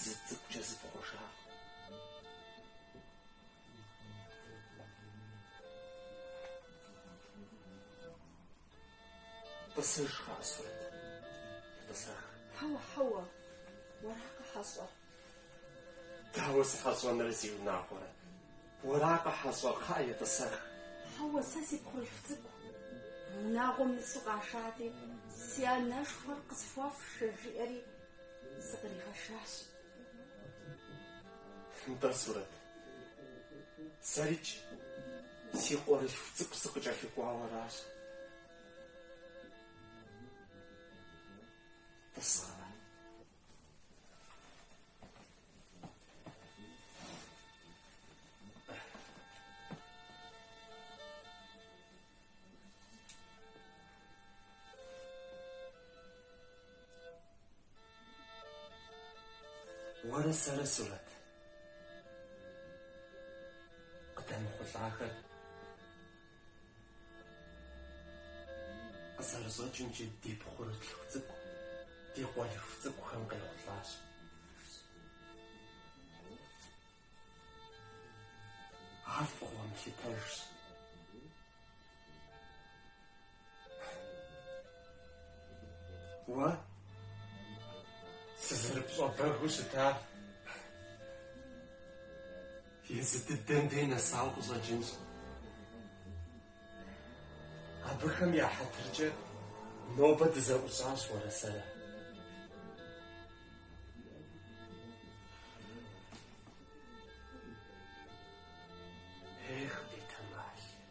Зы цӏыкӏукӏэ зыпхъуэжакъым. Тӏысыж, кхъыӏэ, Сурэт, етӏысэх. Хьэуэ, хьэуэ, уэракъэ хьэщӏэр? Дауэ сыхьэщӏэнрэ, си унагъуэрэ? Уэракъэ хьэщӏэр, кхъыӏэ, етӏысэх. Хьэуэ, сэ си пхъурылъху цӏыкӏу и унагъуэм нысэ къашати, си анэшхуэр къысхуэфшэ, жиӏэри сыкъригъэшащ. Нтӏэ, Сурэт, сэрикӏ си къуэрылъху цӏыкӏу сыкъыкӏэлъыкӏуауэращ. Тӏыс, кхъыӏэ. Уэрэ сэрэ, Сурэт, къыдэмыхъулӏахэр Къызэрыщӏэкӏымкӏэ, ди пхъурылъху цӏыкӏу ди къуэрылъху цӏыкӏухэм къехъулӏащ. Ар фӏыгъуэ мылъытэжщ. Уэ сызэрыпщӏэбэгыу щытар езы дыдэм дей нэсауэ къыщӏэкӏынщ. Абыхэм я хьэтыркӏэ нобэ дызэӏущӏащ уэрэ сэрэ.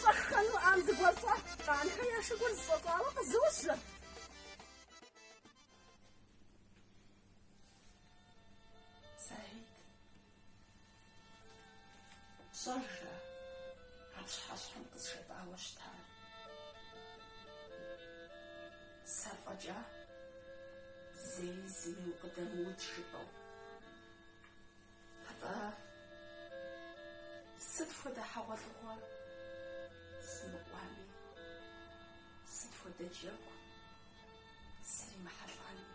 Щӏэххэну ӏам зыгуэркӏуэ, Къанхэ я шыгур зэщӏэщӏауэ къызожьэ. Саид, пщӏэжрэ а пщыхьэщхьэм къызжепӏауэ щытар? Сэ фӏэкӏа зэи зыми укъыдэмыудж жыпӏэу. Атӏэ, сыт хуэдэ хьэгъуэлӏыгъуэ сымыкӏуами, сыт хуэдэ джэгу сримыхьэлӏами,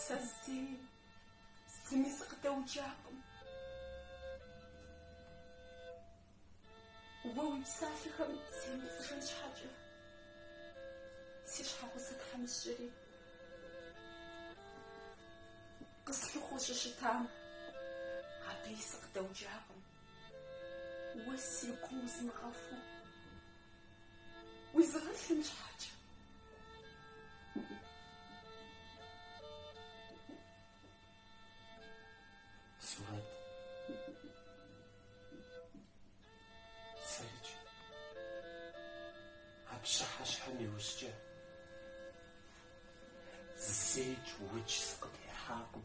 сэ зэи зыми сыкъыдэуджакъым. Уэ уи псалъэхэм семыпцӏыжын щхьэкӏэ, си щхьэгъусэ тхьэмыщкӏэри къыслъыхъуэу щыщытам абыи сыкъыдэуджакъым. Уэ си гум узмыгъэхуу, узыгъэлъын щхьэкӏэ. Сурэт. Сэрыч. А пщыхьэщхьэм иужькӏэ зейкӏ удж сыкъытехьакъым.